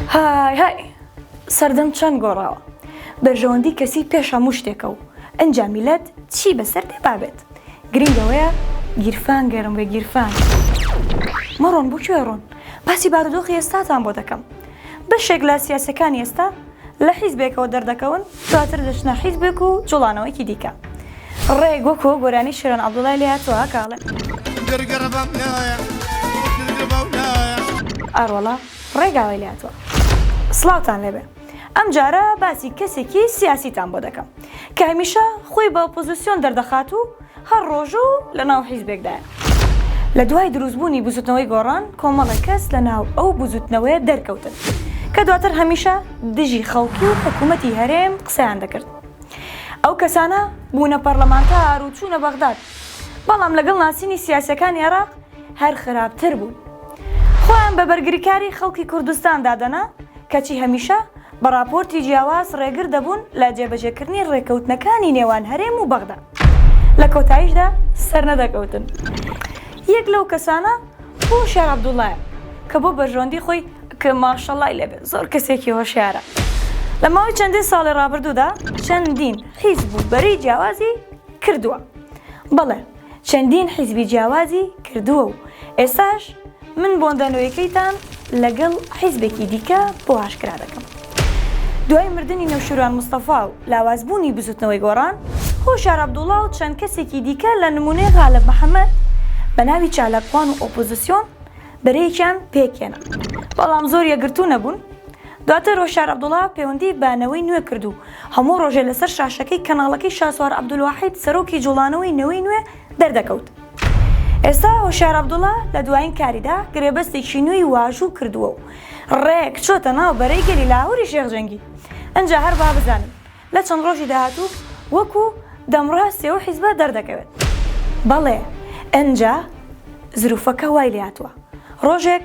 های های سەردەم چەند گۆڕاوە بەرژەوەندی کەسی پێش هەموو شتێکە و ئەنجا میلەت چی بەسەر دێ بابێت گرنگ ئەوەیە گیرفان گەرم بێ گیرفان مەڕۆن بۆ کوێ ڕۆن باسی بارودۆخی ئێستاتان بۆ دەکەم بەشێک لە سیاسەکانی ئێستا لە حیزبێکەوە دەردەکەون دواتر دەچنە حیزبێک و جوڵانەوەیەکی دیکە ڕێک وەکۆ گۆرانی شێران عەبدوڵای لێ هاتووە کە ئەڵێ. ئاروەڵا ڕێگاوای لێ هاتووە. سڵاوتان لێبێ ئەم جارە باسی کەسێکی سیاسیتان بۆ دەکەم کە هەمیشە خۆی بە ئۆپۆزیسیۆن دەردەخات و، هەر ڕۆژ و لە ناو حیزبێکدایە. لە دوای دروست بوونی بزوتنەوەی گۆڕان کۆمەڵێک کەس لە ناو ئەو بزوتنەوەیە دەرکەوتن کە دواتر هەمیشە دژی خەڵکی و حکومەتی هەرێم قسەیان دەکرد. ئەو کەسانە بوونە پەڕلەمانتار و چوونە بەغداد بەڵام لەگەڵ ناسینی سیاسیەکانی عێراق هەر خراپتر بوون. خۆیان بە بەرگریکاری خەڵکی کوردستان دادەنا. کەچی هەمیشە بە ڕاپۆرتی جیاواز ڕێگر دەبوون لە جێبەجێکردنی ڕێکەوتنەکانی نێوان هەرێم و بەغدا، لە کۆتاییشدا سەرنەدەکەوتن. یەک لەو کەسانە هۆشیار عەبدوڵڵایە کە بۆ بەرژەوەندی خۆی، کە ماشەڵڵای لێ بێت زۆر کەسێکی هۆشیارە، لە ماوەی چەندین ساڵی ڕابردوودا چەندین حیزب و بەرەی جیاوازی کردووە. بەڵێ! چەندین حیزبی جیاوازی کردووە و ئێستاش من بۆندە نوێکەیتان لەگەڵ حیزبێکی دیکە بۆ ئاشکرا دەکەم. دوای مردنی نەوشیروان مستەفا و لاوازبوونی بزوتنەوەی گۆڕان، هۆشیار عەبدوڵا و چەند کەسێکی دیکە لە نمونەی غالب محەمەد بە ناوی چالاکوان و ئۆپۆزسیۆن بەرەیەکیان پێکهێنا بەڵام زۆر یەکگرتوو نەبوون. دواتر هۆشیار عەبدوڵا پێوەندی بە نەوەی نوێ کرد و هەموو ڕۆژێ لەسەر شاشەکەی کەناڵەکەی شاسوار عەبدولواحید سەرۆکی جوڵانەوەی نەوەی نوێ دەردەکەوت. ئێستا هۆشیار عەبدوڵا لە دوایین کاریدا گرێبەستێکی نوێی واژوو کردووە و ڕێک چۆتە ناو بەرەی گەلی لاهوری شێخ جەنگی. ئنجا هەر با بزانن لە چەند ڕۆژی داهاتوو وەکو دەمڕاستی ئەو حیزبە دەردەکەوێت. بەڵێ ئنجا زروفەکە وای لێهاتووە ڕۆژێک